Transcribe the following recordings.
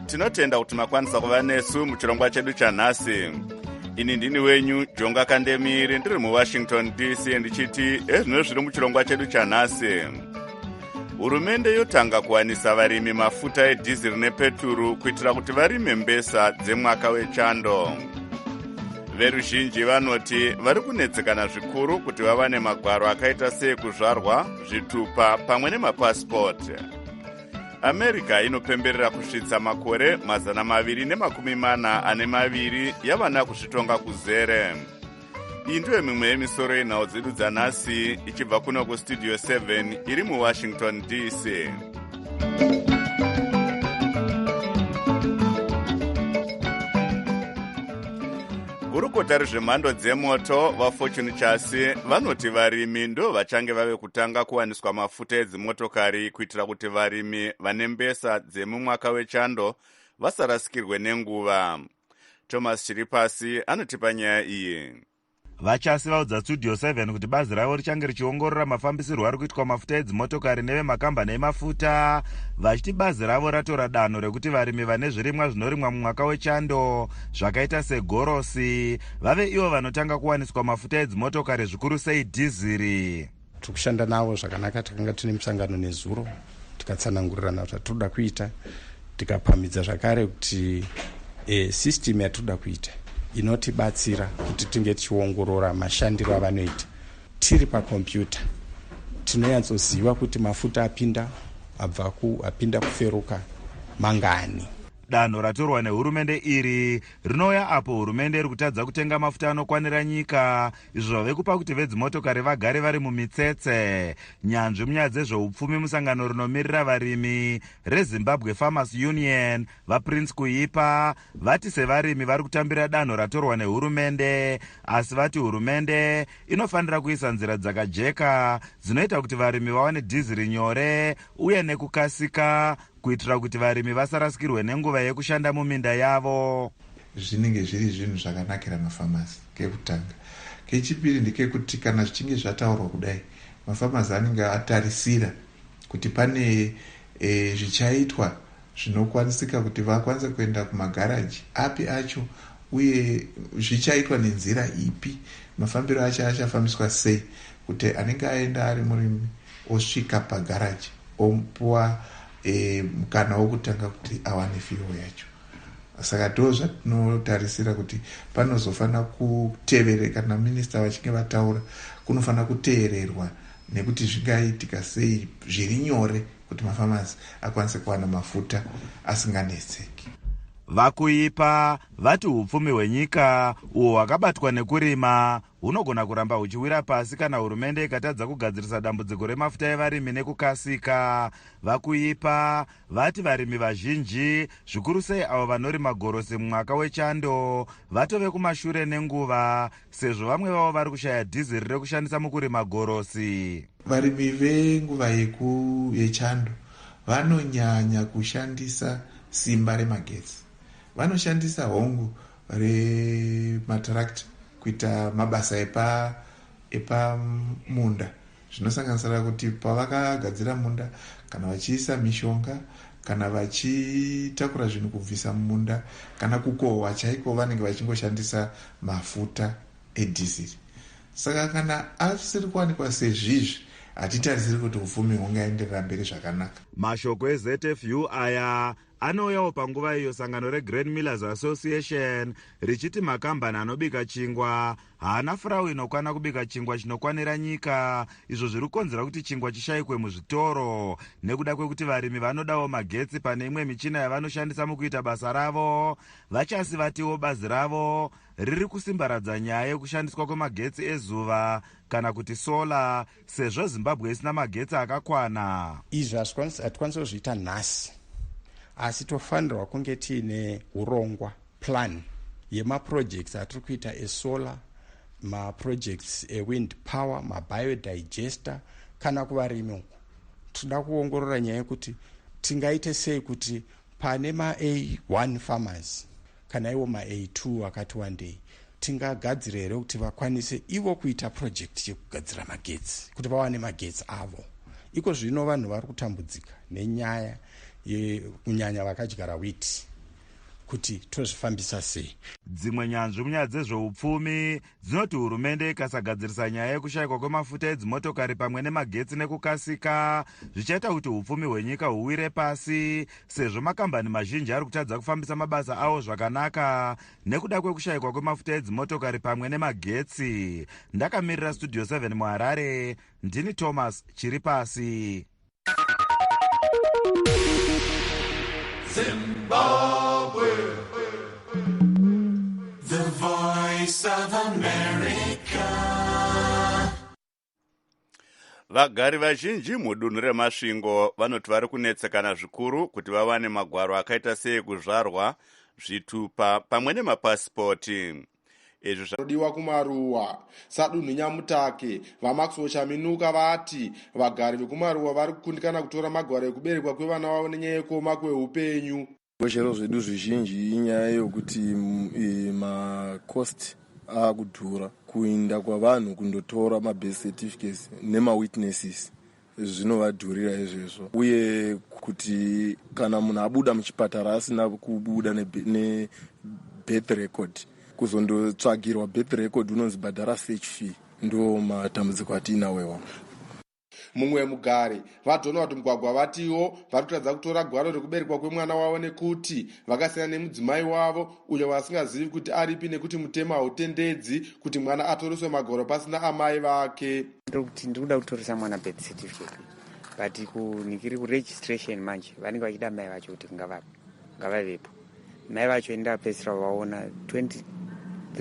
tinotenda kuti makwanisa kuva nesu muchirongwa chedu chanhasi ini ndini wenyu jonga kandemiri ndiri muwashington dc ndichiti ezvino zviri muchirongwa chedu chanhasi hurumende yotanga kuwanisa varimi mafuta edhiziri nepeturu kuitira kuti varime mbesa dzemwaka wechando veruzhinji vanoti vari kunetsekana zvikuru kuti vawane magwaro akaita seekuzvarwa zvitupa pamwe nemapasipoti america inopemberera kusvitsa makore mazana maviri nemakumi mana ane maviri yavana kuzvitonga kuzere iyi ndiyo mimwe yemisoro yenhau dzedu dzanhasi ichibva kuno kustudio 7 iri muwashington dc gurukota rezvemhando dzemoto vafortune chasi vanoti varimi ndo vachange vave kutanga kuwaniswa mafuta edzimotokari kuitira kuti varimi vane mbesa dzemumwaka wechando vasarasikirwe nenguva thomas chiri pasi anotipa nyaya iyi vachasi vaudza studio 7 kuti bazi ravo richange richiongorora mafambisirwo ari kuitwa mafuta edzimotokari nevemakambani emafuta vachiti bazi ravo ratora danho rekuti varimi vane zvirimwa zvinorimwa mumwaka wechando zvakaita segorosi vave ivo vanotanga kuwaniswa mafuta edzimotokari zvikuru sei dhiziri tiri kushanda navo zvakanaka takanga tine musangano nezuro tikatsanangurirana zvatinoda kuita tikapamhidza zvakare kuti e, eh, system yatinoda kuita inotibatsira kuti tinge tichiongorora mashandiro avanoita tiri pakompyuta tinonyatsoziva kuti mafuta apinda abva ku apinda kuferuka mangani Danho ratorwa nehurumende iri rinouya apo hurumende iri kutadza kutenga mafuta anokwanira nyika izvo zvave kupa kuti vedzimotokari vagare vari mumitsetse. Nyanzvi munyaya dzezveupfumi musangano rinomirira varimi reZimbabwe Farmers Union, VaPrince Kuipa, vati sevarimi vari kutambira danho ratorwa nehurumende asi vati hurumende inofanira kuisa nzira dzakajeka dzinoita kuti varimi vawane dhiziri nyore uye nekukasika kuitira kuti varimi vasarasikirwe nenguva yekushanda muminda yavo zvinenge zviri zvinhu zvakanakira mafamasi kekutanga kechipiri ndekekuti kana zvichinge zvataurwa kudai mafamasi anenge atarisira kuti pane e, zvichaitwa zvinokwanisika kuti vakwanise kuenda kumagaraji api acho uye zvichaitwa nenzira ipi mafambiro acho achafambiswa sei kuti anenge aenda ari murimi osvika pagaraji omupuwa e, mukana wokutanga kuti awane fiwo yacho saka ndo zvatinotarisira kuti panozofanira kutevere kana minista vachinge vataura kunofanira kuteererwa nekuti zvingaitika sei zviri nyore kuti mafamasi akwanise kuwana mafuta asinganetseki vakuipa vati upfumi hwenyika uhwo hwakabatwa nekurima hunogona kuramba huchiwira pasi kana hurumende ikatadza kugadzirisa dambudziko remafuta evarimi nekukasika vakuipa vati varimi vazhinji zvikuru sei avo vanorima gorosi mumwaka wechando vatove kumashure nenguva sezvo vamwe vavo vari kushaya dhiziri rekushandisa mukurima gorosi varimi venguva yechando vanonyanya kushandisa simba remagetsi vanoshandisa hongu rematarakiti kuita mabasa epa epamunda zvinosanganisira kuti pavakagadzira munda kana vachiisa mishonga kana vachitakura zvinhu kubvisa mumunda kana kukohwa chaiko vanenge vachingoshandisa mafuta edhiziri saka kana asiri kuwanikwa sezvizvi hatitarisiri kuti upfumi hungaenderera mberi zvakanaka mashoko ezfu aya Anouyawo panguva iyo sangano reGrain Millers Association richiti makambani anobika chingwa haana furawu inokwana kubika chingwa chinokwanira nyika izvo zviri kukonzera kuti chingwa chishayikwe muzvitoro nekuda kwekuti varimi vanodawo magetsi pane imwe michina yavanoshandisa mukuita basa ravo. VaChasi vatiwo bazi ravo riri kusimbaradza nyaya yekushandiswa kwemagetsi ezuva kana kuti solar sezvo zimbabwe isina magetsi akakwana izvi hatikwanisi kuzviita nhasi asi tofanirwa kunge tiine urongwa plan yemaprojects atiri kuita esolar maprojects ewind power mabiodigester kana kuvarimi uku tinoda kuongorora nyaya yekuti tingaite sei kuti pane ma a one farmers kana iwo ma-a2 akati wandei tingagadzira here kuti vakwanise ivo kuita project yekugadzira magetsi kuti vawane magetsi avo iko zvino vanhu vari kutambudzika nenyaya kunyanya vakadyara witi kuti tozvifambisa sei dzimwe nyanzvi munyaya dzezveupfumi dzinoti hurumende ikasagadzirisa nyaya yekushayikwa kwemafuta edzimotokari pamwe nemagetsi nekukasika zvichaita kuti upfumi hwenyika huwire pasi sezvo makambani mazhinji ari kutadza kufambisa mabasa awo zvakanaka nekuda kwekushayikwa kwemafuta edzimotokari pamwe nemagetsi ndakamirira studio 7 muharare ndini thomas chiri pasi Zimbabwe, the voice of America. Vagari vazhinji mudunhu reMasvingo vanoti vari kunetsekana zvikuru kuti vawane magwaro akaita seekuzvarwa, zvitupa pamwe nemapasipoti. izvo zvinodiwa kumaruwa sadunhu nyamutake vamaxwell chaminuka vati vagari vekumaruwa vari kukundikana kutora magwaro ekuberekwa kwevana vavo nenyaya yekuoma kweupenyu zvikweshero zvedu zvizhinji inyaya yokuti mm, e, macost akudhura kuinda kwavanhu kundotora mabirth certificates nemawitnesses zvinovadhurira izvezvo uye kuti kana munhu abuda muchipatara asina kubuda nebirth record kuzondotsvagirwa birth record unonzi bhadhara search fee ndo matambudziko atiinawo iwawo mumwe mugari vadonald mugwagwa vatiwo vari kutadza kutora gwaro rekuberekwa kwemwana wavo nekuti vakasiyana nemudzimai wavo uyo vasingazivi kuti aripi nekuti mutemo hautendedzi kuti mwana atoreswe magoro pasina amai vake ndokuti ndiri kuda kutoresa mwana birth certificate but kunikiri kuregistration manje vanenge vachida mai vacho kuti ngavapi ngavavepo mai vacho enda apedzisira vaona 23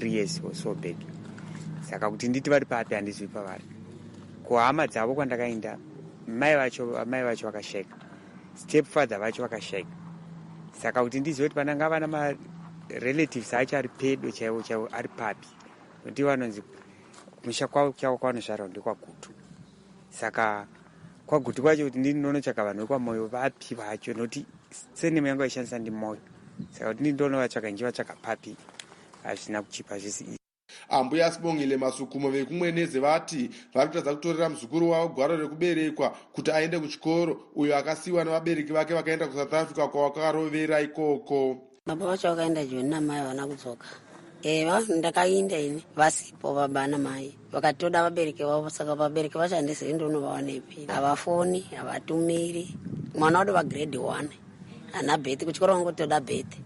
years or so back saka kuti nditi vari papi handizwi pavari kuhama dzavo kwandakaenda mai vacho mai vacho vakasheka stepfather vacho vakashaika saka kuti ndizive kuti pananga ava namarelatives acho ari pedo chaivo chaivo ari papi nokuti vanonzi kumusha kwavo chavo kwavanozvarwa ndekwagutu saka kwagutu kwacho kuti ndinonotsvaka vanhu vekwamoyo vapi vacho nokuti senemo yangu aishandisa ndimoyo saka kuti ndindonovatsvaka ndichivatsvaka papi hazvina kuchipa zvisi Ambuya Sibongile Masukumo vekuMwenezi vati vari kutadza kutorera muzukuru wavo gwaro rekuberekwa kuti aende kuchikoro uyo akasiyiwa nevabereki vake vakaenda kuSouth Africa kwavakarovera ikoko. Baba vacho vakaenda Joni namai havana kudzoka. Eva eh, ndakainda ini vasipo baba namai vakatoda vabereki vavo saka vabereki vacho handizivi ndonovawanepi havafoni havatumiri mwana wado vagrade one hana beti kuchikoro vangotoda beti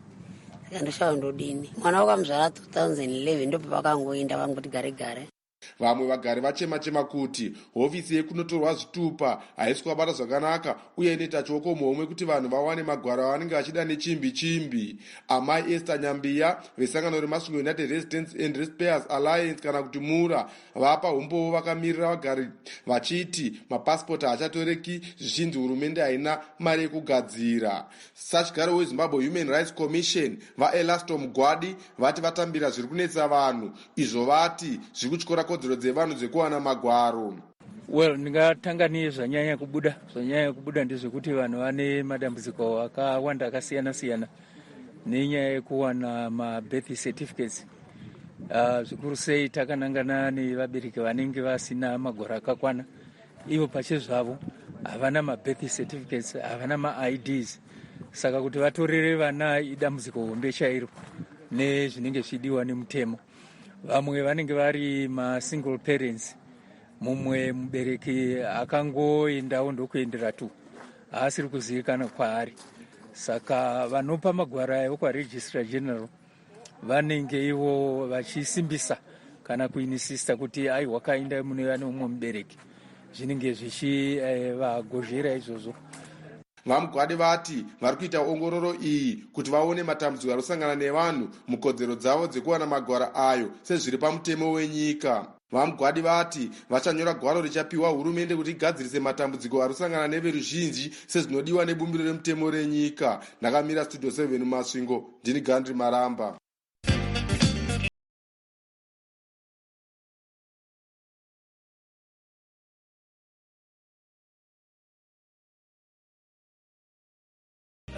ndoshawa ndodini mwana wakamuzvara 2011 ndopa vakangoinda vangoti gare gare vamwe vagari vachema chema kuti hofisi yekunotorwa zvitupa haisi kuvabata zvakanaka uye inoita chioko muhomwe kuti vanhu vawane magwaro avanenge vachida nechimbi chimbi amai ester nyambiya vesangano remasvingo united residence and respairs alliance kana kuti mura vapa umbowo vakamirira vagari vachiti mapasipoti haachatoreki zvichinzi hurumende haina mari yekugadzira Sachigaro weZimbabwe Human Rights Commission, VaElasto Mugwadi, vati vatambira zviri kunetsa vanhu izvo vati zviri kutyora kodzero dzevanhu dzekuwana magwaro. Well, ndingatanga nezvanyanya kubuda. Zvanyanya kubuda ndezvekuti vanhu vane madambudziko akawanda akasiyana siyana nenyaya yekuwana mabirth certificates uh, zvikuru sei takanangana nevabereki vanenge vasina magwaro akakwana ivo pachezvavo havana mabirth certificates havana maids saka kuti vatorere vana idambudziko hombe chairo nezvinenge zvichidiwa nemutemo vamwe vanenge vari masingle parents mumwe mubereki akangoendawo ndokuendera tu haasiri kuzivikana kwaari saka vanopa magwaro ayo kwaregistrar general vanenge ivo vachisimbisa kana kuinisista kuti ai wakainda mune vane umwe mubereki zvinenge zvichivagozhera eh, izvozvo vamugwadi vati vari kuita ongororo iyi kuti vaone matambudziko ari kusangana nevanhu mukodzero dzavo dzekuwana magwaro ayo sezviri pamutemo wenyika VaMugwadi vati vachanyora gwaro richapiwa hurumende kuti igadzirise matambudziko ari kusangana neveruzhinji sezvinodiwa nebumbiro remutemo renyika. Ndakamira Studio 7 Masvingo, ndini Gandri Maramba.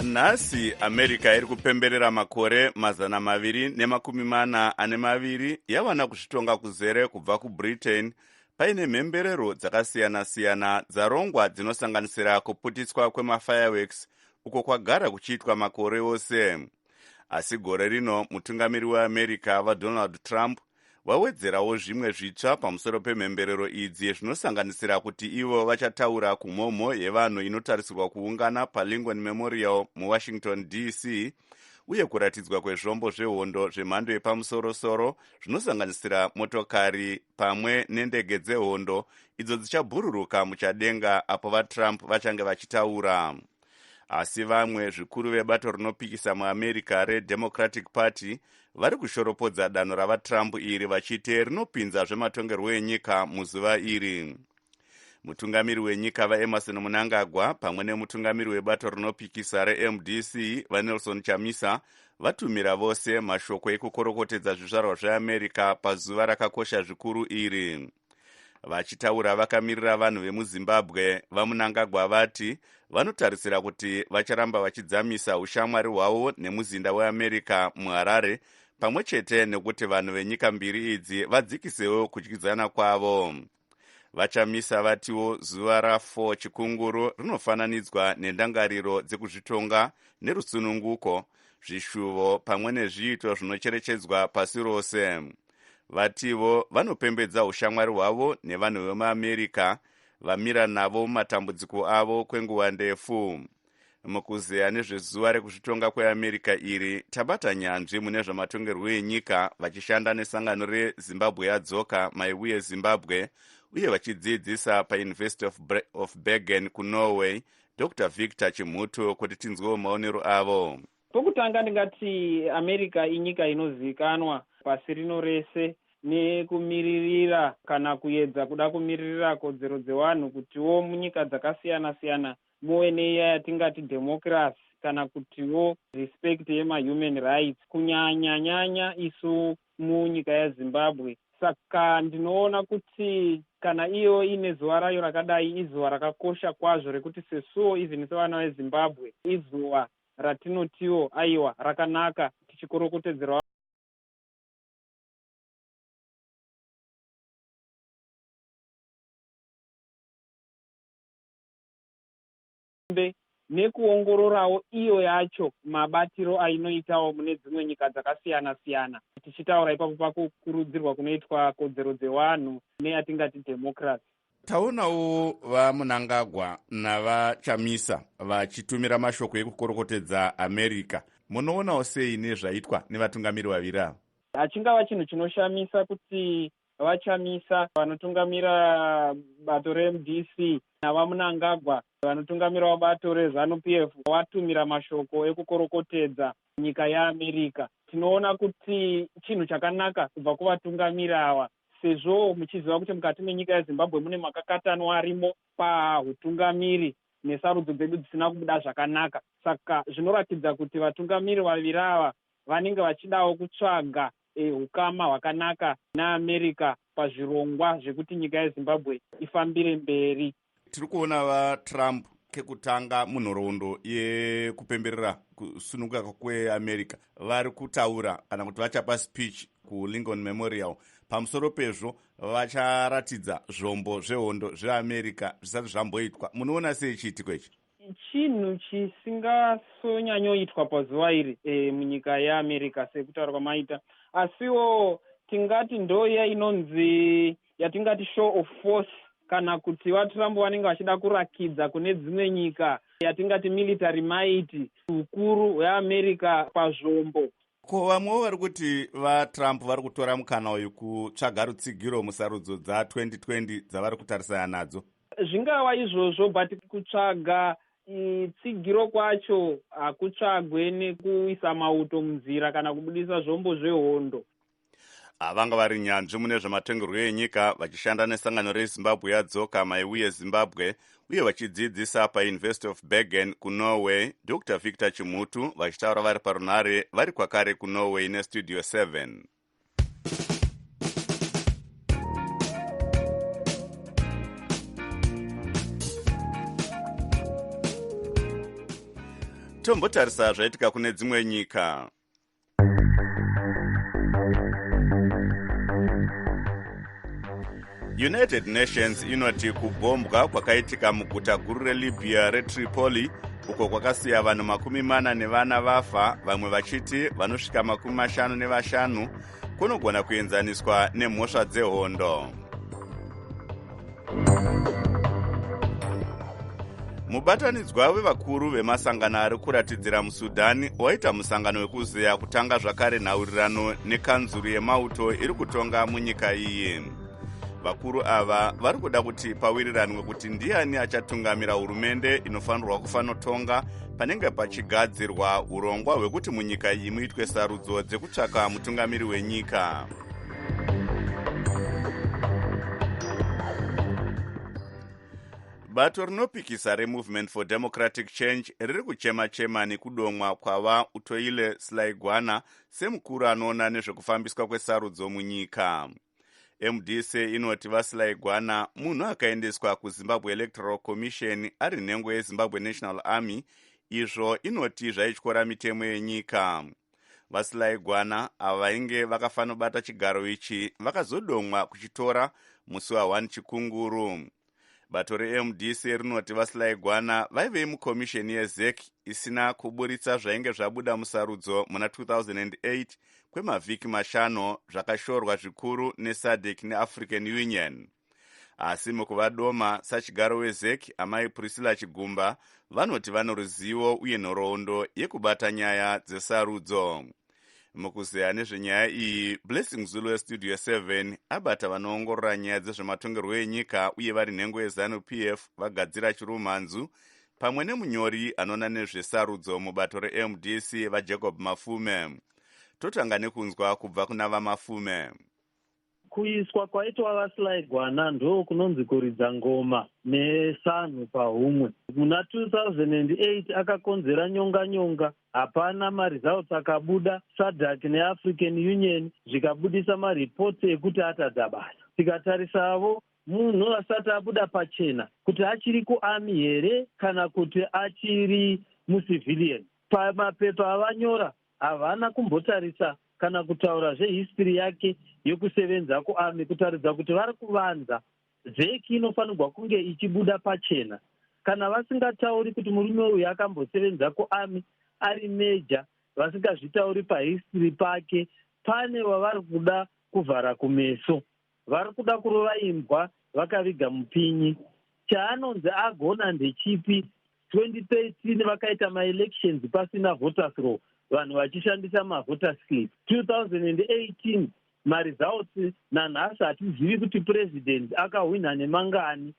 Nhasi America iri kupemberera makore mazana maviri nemakumi mana ane maviri yavana kuzvitonga kuzere kubva kuBritain paine mhemberero dzakasiyana-siyana dzarongwa dzinosanganisira kuputiswa kwemafireworks uko kwagara kuchiitwa makore ose. Asi gore rino mutungamiri weAmerica VaDonald Trump vawedzerawo zvimwe zvitsva pamusoro pemhemberero idzi zvinosanganisira kuti ivo vachataura kumhomho yevanhu inotarisirwa kuungana palincoln memorial muwashington dc uye kuratidzwa kwezvombo zvehondo zvemhando yepamusorosoro zvinosanganisira motokari pamwe nendege dzehondo idzo dzichabhururuka muchadenga apo vatrump vachange vachitaura asi vamwe zvikuru vebato rinopikisa muamerica redemocratic party vari kushoropodza danho ravatrump iri vachiti rinopinza zvematongerwo enyika muzuva iri mutungamiri wenyika vaemerson munangagwa pamwe nemutungamiri webato rinopikisa remdc vanelson chamisa vatumira vose mashoko ekukorokotedza zvizvarwa zveamerica pazuva rakakosha zvikuru iri vachitaura vakamirira vanhu vemuzimbabwe vamunangagwa vati vanotarisira kuti vacharamba vachidzamisa ushamwari hwavo nemuzinda weamerica muharare pamwe chete nekuti vanhu venyika mbiri idzi vadzikisewo kudyidzana kwavo vachamisa vatiwo zuva ra4 chikunguru rinofananidzwa nendangariro dzekuzvitonga nerusununguko zvishuvo pamwe nezviito zvinocherechedzwa pasi rose vativo vanopembedza ushamwari hwavo nevanhu vemuamerica vamira navo mumatambudziko avo kwenguva ndefu mukuzeya nezvezuva rekuzvitonga kweamerica iri tabata nyanzvi mune zvamatongerwo enyika vachishanda nesangano rezimbabwe yadzoka maivuye zimbabwe uye vachidzidzisa pauniversity of, of bergen kunorway dr victor chimhuto kuti tinzwewo maonero avo Pokutanga ndingati America inyika inozivikanwa pasi rino rese nekumiririra kana kuyedza kuda kumiririra kodzero dzewanhu kutiwo munyika dzakasiyana siyana muve neiya yatingati democracy kana kutiwo respect yema human rights kunyanya nyanya isu munyika yaZimbabwe saka ndinoona kuti kana iyo ine zuva rayo rakadai izuva rakakosha kwazvo rekuti sesuwo even sevana veZimbabwe izuva ratinotiwo aiwa rakanaka tichikorokotedzerwa. Mbe nekuongororawo iyo yacho mabatiro ainoitawo mune dzimwe nyika dzakasiyana siyana tichitaura ipapo pakukurudzirwa kunoitwa kodzero dzewanhu neyatingati democracy. Taonawo VaMunangagwa naVaChamisa vachitumira mashoko ekukorokotedza America. Munoonawo sei nezvaitwa nevatungamiri vaviri ava? Hachingava chinhu chinoshamisa kuti VaChamisa vanotungamira bato reMDC naVaMunangagwa vanotungamirawo bato reZanu PF vatumira mashoko ekukorokotedza nyika yeAmerica. Tinoona kuti chinhu chakanaka kubva kuvatungamiri ava sezvo muchiziva kuti mukati menyika yeZimbabwe mune makakatanwa arimo pahutungamiri nesarudzo dzedu dzisina kubuda zvakanaka saka zvinoratidza kuti vatungamiri vaviri ava vanenge vachidawo kutsvaga e, hukama hwakanaka neAmerica pazvirongwa zvekuti nyika yeZimbabwe ifambire mberi. Tiri kuona vaTrump kekutanga munhoroondo yekupemberera kusununguka kweamerica vari kutaura kana kuti vachapa speech kulincoln memorial pamusoro pezvo vacharatidza zvombo zvehondo zveamerica zvisati zvamboitwa munoona sei chiitiko ichi chinhu chisingasonyanyoitwa pazuva iri e, munyika yeamerica sekutaura kwamaita asiwo tingati ndoya inonzi yatingati show of force kana kuti vatrump vanenge vachida kurakidza kune dzimwe nyika yatingati military might ukuru hweamerica pazvombo ko vamwewo vari kuti vatrump vari kutora mukana uyu kutsvaga rutsigiro musarudzo dza2020 dzavari kutarisana nadzo zvingava izvozvo but kutsvaga tsigiro kwacho hakutsvagwe nekuisa mauto munzira kana kubudisa zvombo zvehondo Ah, vanga vari nyanzvi mune zvematongerwo enyika vachishanda nesangano rezimbabwe yadzoka maiuye zimbabwe uye vachidzidzisa pauniversity of bergen kunorway dr victor chimutu vachitaura vari parunhare vari kwakare kunorway nestudio 7 tombotarisa zvaitika kune dzimwe nyika united nations inoti kubhombwa kwakaitika muguta guru relibya retripoli uko kwakasiya vanhu makumi mana nevana vafa vamwe vachiti vanosvika makumi mashanu nevashanu kunogona kuenzaniswa nemhosva dzehondo mubatanidzwa wevakuru vemasangano ari kuratidzira musudhani waita musangano wekuzeya kutanga zvakare nhaurirano nekanzuru yemauto iri kutonga munyika iyi vakuru ava vari kuda kuti pawiriranwe kuti ndiani achatungamira hurumende inofanirwa kufanotonga panenge pachigadzirwa urongwa hwekuti munyika iyi muitwe sarudzo dzekutsvaka mutungamiri wenyika bato rinopikisa removement for democratic change riri kuchema-chema nekudomwa kwava utoile slaigwana semukuru anoona nezvekufambiswa kwesarudzo munyika mdc inoti vasilaigwana munhu akaendeswa kuzimbabwe electoral commission ari nhengo yezimbabwe national army izvo inoti zvaityora mitemo yenyika vasilaigwana ava vainge vakafanobata chigaro ichi vakazodomwa kuchitora musi wa 1 chikunguru bato remdc rinoti vasilaigwana vaivei mukomisheni yezec isina kuburitsa zvainge zvabuda musarudzo muna 2008 kwemavhiki mashanu zvakashorwa zvikuru nesadec neafrican union asi mukuvadoma sachigaro wezec amai priscilla chigumba vanoti vano ruzivo uye nhoroondo yekubata nyaya dzesarudzo mukuzeya nezvenyaya iyi blessing zulu westudio 7 abata vanoongorora nyaya dzezvematongerwo enyika uye vari nhengo yezanu p f vagadzira chirumhanzu pamwe nemunyori anoona nezvesarudzo mubato remdc vajacob mafume totanga nekunzwa kubva kuna vamafume Kuiswa kwaitwa VaSly Gwana ndoo kunonzi kuridza ngoma nesanhu pahumwe. Muna 2008 akakonzera nyonga nyonga, hapana maresults akabuda, Sadc neAfrican Union zvikabudisa mareports ekuti atadza basa. Tikatarisavo munhu asati abuda pachena kuti achiri kuArmy here kana kuti achiri muCivilian. Pamapepa avanyora Havana kumbotarisa kana kutaura zvehistory yake yokusevenza kuarmy kutaridza kuti vari kuvanza. Zec inofanirwa kunge ichibuda pachena. Kana vasingatauri kuti murume uyu akambosevenza kuarmy ari major vasingazvitauri pahistory pake pane wavari kuda kuvhara kumeso. Vari kuda kurova imbwa vakaviga mupinyi. Chaanonzi agona ndechipi? 2013 vakaita maelections pasina voters roll vanhu vachishandisa mavoter slip 2018 maresults nanhasi hatizivi kuti president akahwinha nemangani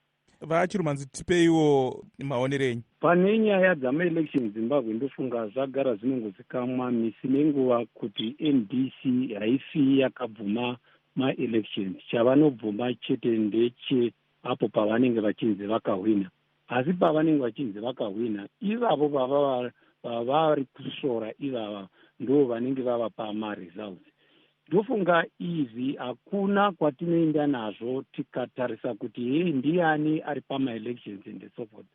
vachirumanzi tipeiwo maonero enyu pane nyaya dzamaelection zimbabwe ndofunga zvagara zvinongozikamwa misi nenguva kuti mdc haisi yakabvuma maelections chavanobvuma chete ndeche apo pavanenge vachinzi vakahwina asi pavanenge vachinzi vakahwina ivavo vavari kusvora ivava ndo vanenge vavapa maresults Ndofunga izvi hakuna kwatinoenda nazvo tikatarisa kuti hei ndiani ari pamaelections and so forth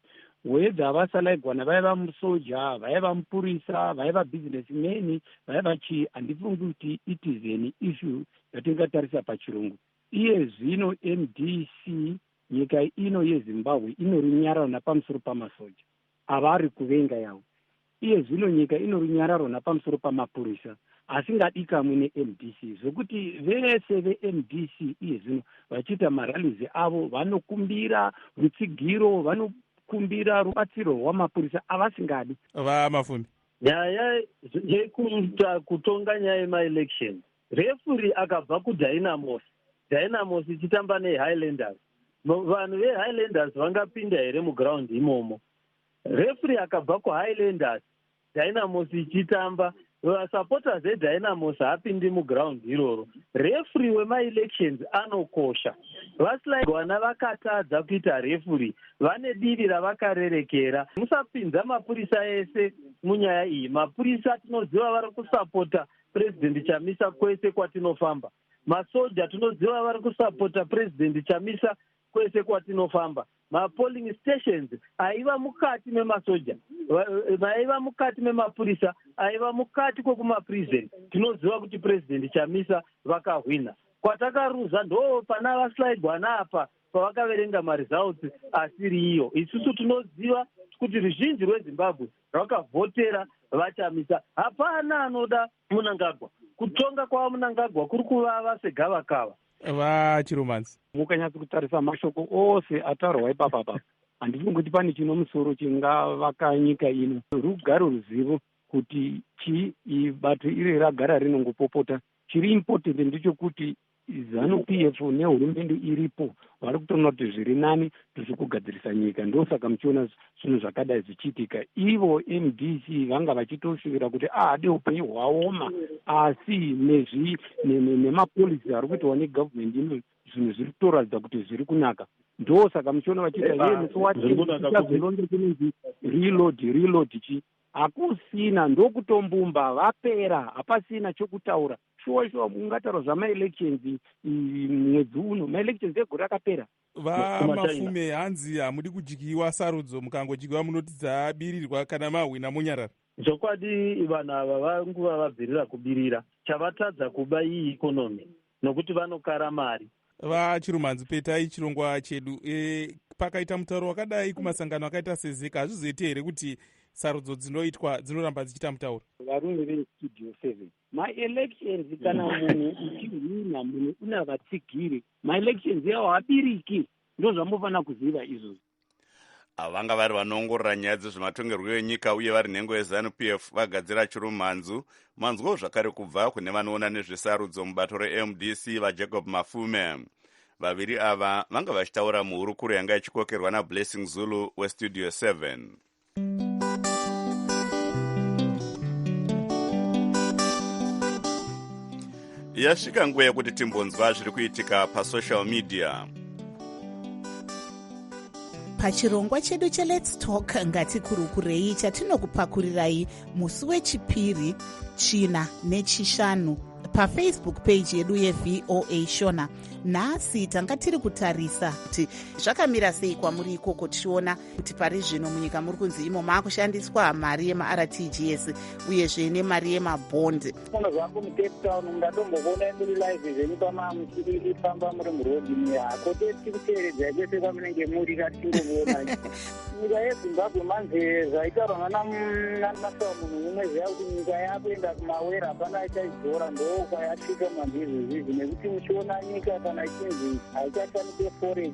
whether vasalaigwana vaiva musoja vaiva mupurisa vaiva business man vaiva chii handifungi kuti it is an issue yatingatarisa pachirungu iye zvino mdc nyika ino yezimbabwe inorinyarana pamusoro pamasoja avari kuvenga yavo. Iye zvino nyika ino runyararo napamusoro pamapurisa asingadikamwi nemdc zvokuti vese vemdc iye zvino vachiita maralizi avo vanokumbira rutsigiro vano kumbira rubatsiro rwamapurisa avasingadi vamafumi nyaya yekuita kutonga nyaya yemaelection Refuri akabva kuDynamos, Dynamos ichitamba neHighlanders. Vanhu veHighlanders vangapinda here muground imomo? Refuri akabva kuHighlanders, Dynamos ichitamba vasupporters edynamos haapindi muground iroro refuri wemaelections anokosha vasilaigwana vakatadza kuita refuri vane divi ravakarerekera musapinza mapurisa ese munyaya iyi mapurisa tinoziva vari kusapota President Chamisa kwese kwatinofamba. Masoja tinoziva vari kusapota President Chamisa kwese kwatinofamba. Mapolling stations aiva mukati memasoja, vaiva mukati memapurisa, aiva mukati kwekumaprison. Tinoziva kuti President Chamisa vakahwina. Kwatakaruza ndo pana vaslaibwa naapa pavakaverenga maresults asiri iyo. Isusu tinoziva kuti ruzhinji rwezimbabwe vakavhotera VaChamisa. Hapana anoda Munangagwa. Kutonga kwaVaMunangagwa kuri kuvava segavakava. VaChiromanzi. Mukanyatsa kutarisa mashoko ose ataurwa ipapa apa, handifungi kuti pane chino musoro chingavaka nyika ino. Rugare ruzivo kuti chii bato iri ragara rinongopopota. Chiri important ndichokuti Zanu PF nehurumende iripo vari kutoona kuti zviri nani tiri kugadzirisa nyika ndosaka muchiona zvinhu zvakadai zvichiitika ivo mdc vanga vachitoshuvira kuti ahade upenyu hwaoma asi nezvi nemapolisi ari kuitawa negovernment ino zvinhu zviri kutoratidza kuti zviri kunaka ndosaka muchiona vachiita yenesowatilonge kunonzi reload reload chii hakusina ndokutombumba vapera hapasina chokutaura shuwa shuwa kungataurwa zvamaelections mwedzi uno maelections egore rakapera vamafume hanzi hamudi kudyiwa sarudzo mukangodikiwa munoti dzabirirwa kana mahwina monyarara zvokwadi vanhu ava vanguva vabvirira kubirira chavatadza kuba iyi ikonomi nokuti vanokara mari vachirumanzi petai chirongwa chedu e, pakaita mutauro wakadai kumasangano akaita sezeka hazvizoite here kuti sarudzo dzinoitwa dzinoramba dzichiita mutauro varume vestudio seven maelections kana munhu uchihwina munhu una vatsigiri maelections yawo habiriki ndozvamofanira kuziva izvozvo avo vanga vari vanoongorora nyaya dzezvematongerwo enyika uye vari nhengo yezanup f vagadzira chirumhanzu manzwawo zvakare kubva kune vanoona nezvesarudzo mubato remdc vajacob mafume vaviri ava vanga vachitaura muhurukuro yanga ichikokerwa nablessing zulu westudio 7 yasvika nguva yekuti timbonzwa zviri kuitika pasocial media pachirongwa chedu chelets talk ngatikurukurei chatinokupakurirayi musi wechipiri china nechishanu pafacebook page yedu yevoa shona nhasi tanga tiri kutarisa kuti zvakamira sei kwamuri ikoko tichiona kuti pari zvino munyika muri kunzi imo maakushandiswa mari yemartgs uyezve nemari yemabond uno zvangu mucape town ungatombokuonai muri live zvenyu pamamuifamba muri murodi muya kote tikuteeredzai kwese kwamunenge muri katingomuonai nyika yezimbabwe manje zvaitaurwa nanasava munhu mumwe ziva kuti nyika yakuenda kumawera hapana ichaidzora ndooka yasvika mandizvizvizvi nekuti muchiona nyika kana ichinzi haichashandise forex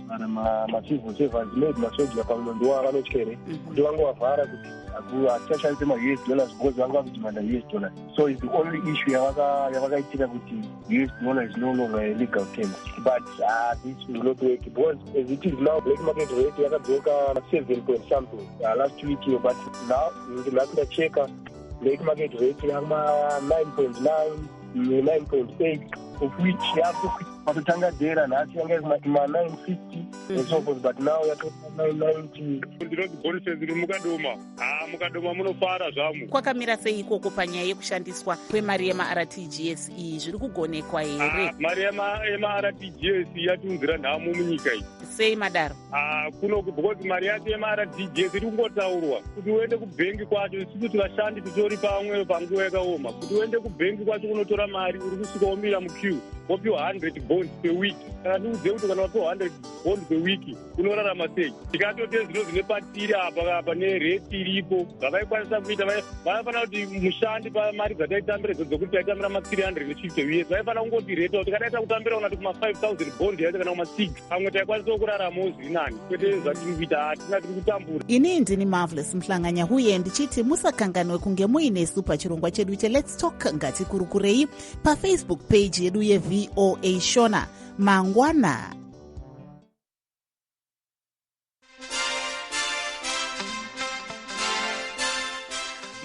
macivil servants maid masoja pamwe ndowa vanotya here mhm. kuti vangovavhara kuti hatichashandise maus dollars because vanga vakudimanda us dollars so is the only issue yavakaitika kuti us dollar is no longer a legal term but uh, this will not work because as it is now black market rate yakadzoka seven point something uh, last week yo but now ndinakundacheka black market rate yama nine point nine 9.8 of which yakupatotanga dera nhasi yanga iri mati ma 950 mhm. and so forth but now yatoa 990 ndinoti bonises ri mukadoma haa mukadoma munofara zvamu kwakamira sei ikoko panyaya yekushandiswa kwemari yemartgs iyi zviri kugonekwa here mari yemartgs yatiunzira nhamo munyika iyi sei madaro Ah, kuno because mari yacho yemaRDJ iri kungotaurwa kuti uende kubhengi kwacho isi kuti vashandi titori pamwe panguva yakaoma kuti uende kubhengi kwacho kunotora mari uri kusvika womira muqueue wopiwa 100 bond peweek kana ndiudze kuti kana wapiwa 100 bond peweek unorarama sei tikatotezvino zvine patiri apa apa nereti iripo zvavaikwanisa kuita vaifanira kuti mushandi pamari dzataitambira idzo dzokuti taitambira ma 350 uye vaifanira kungotireta kuti kadaita kutambira unati kuma 5000 bond yaita kana kuma 6 pamwe taikwanisa kurarama uzvinani kwete zvatiri kuita hatina tiri kutambura ini ndini marvelous muhlanganya huye ndichiti musakanganwe kunge muinesu pachirongwa chedu che lets talk ngatikurukurei pafacebook page yedu yevoa shona mangwana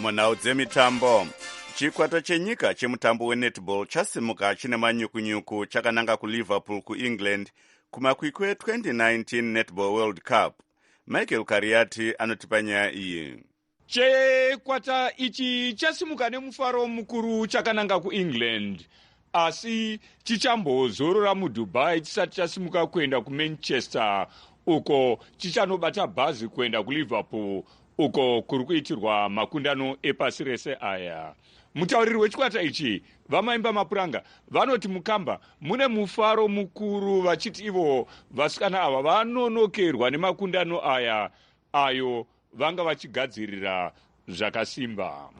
munhau dzemitambo chikwata chenyika chemutambo wenetball chasimuka chine manyukunyuku chakananga kuliverpool kuengland kumakwikwi e2019 netball world cup michael kariyati anotipa nyaya iyi Chikwata ichi chasimuka nemufaro mukuru chakananga kuEngland asi chichambozorora muDubai chisati chasimuka kuenda kuManchester uko chichanobata bhazi kuenda kuLiverpool uko kuri kuitirwa makundano epasi rese aya. Mutauriri wechikwata ichi vamaimba mapuranga vanoti mukamba mune mufaro mukuru vachiti ivo vasikana ava vanonokerwa nemakundano aya ayo vanga vachigadzirira zvakasimba.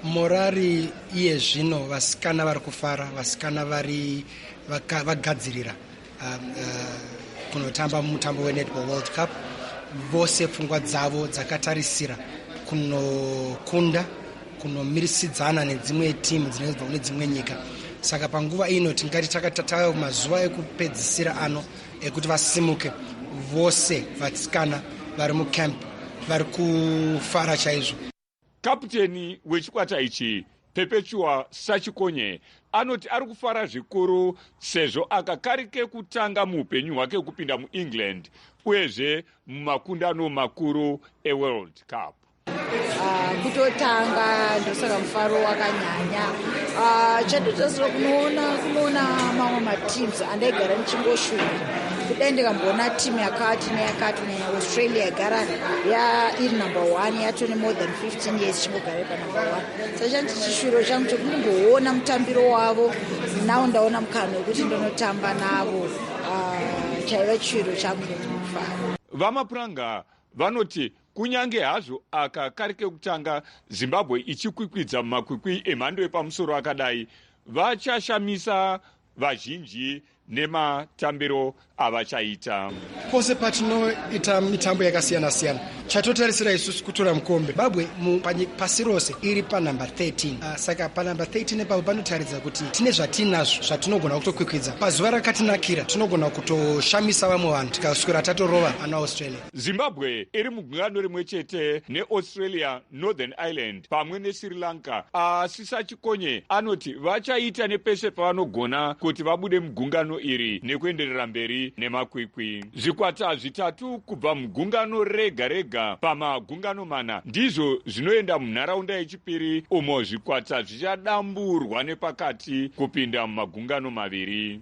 Morari iye zvino vasikana vari kufara, vasikana vari vagadzirira um, uh, kunotamba mutambo wenetball world cup vose pfungwa dzavo dzakatarisira kunokunda kunomirisidzana nedzimwe timu dzinenge dzibva kune dzimwe nyika saka panguva ino tingati takatatayo mazuva ekupedzisira ano ekuti vasimuke vose vatsikana vari mucamp vari kufara chaizvo kaputeni wechikwata ichi pepetua sachikonye anoti ari kufara zvikuru sezvo aka kari kekutanga muupenyu hwake kupinda muengland uyezve mumakundano makuru eworld cup Uh, kutotanga ndosaka mufaro wakanyanya uh, chatotasira kunoona kunoona mamwe mateams andaigara ndichingoshuva kudai ndikamboona team yakati neyakati neaustralia yagara iri number one yatone more than 15 years chingogara panumber one sa chanti chishuviro changu chekundimboona mutambiro wavo now ndaona mukana wekuti ndinotamba navo uh, chaiva chishuviro changu nekunofara vamapuranga vanoti Kunyange hazvo aka kari kekutanga Zimbabwe ichikwikwidza mumakwikwi emhando yepamusoro akadai, vachashamisa vazhinji nematambiro avachaita pose patinoita mitambo yakasiyana siyana chatotarisira isusu kutora mukombe babwe pasi rose iri panumbe 13 uh, ah, saka panumbe 13 epapo panotaridza kuti tine zvatiinazvo zvatinogona kutokwikwidza pazuva rakatinakira tinogona kutoshamisa vamwe vanhu tikaswera tatorova ana australia Zimbabwe iri mugungano rimwe chete neAustralia, Northern Ireland pamwe neSri Lanka. Asi Sachikonye anoti vachaita nepese pavanogona kuti vabude mugungano iri nekuenderera mberi nemakwikwi. Zvikwata zvitatu kubva mugungano rega rega pamagungano mana ndizvo zvinoenda munharaunda yechipiri umo zvikwata zvichadamburwa nepakati kupinda mumagungano maviri.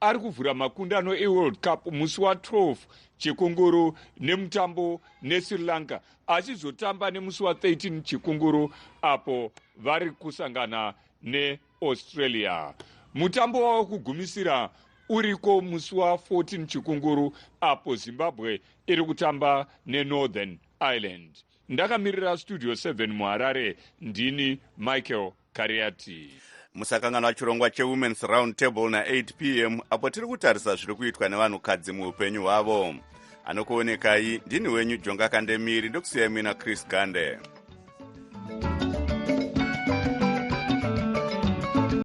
ari kuvhura makundano eworld cup musi wa 12 chekongoro nemutambo nesri lanka achizotamba nemusi wa 13 chekongoro apo vari kusangana neaustralia mutambo wava kugumisira uriko musi wa 14 chekongoro apo zimbabwe iri kutamba nenorthern ireland ndakamirira studio 7 muharare ndini michael Kariati. Musakanganwa chirongwa cheWomen's Round Table na8 pm apo tiri kutarisa zviri kuitwa nevanhukadzi muupenyu hwavo. Anokuonekai ndini wenyu Jonga Kandemiri ndokusiyai muina Chris Gande.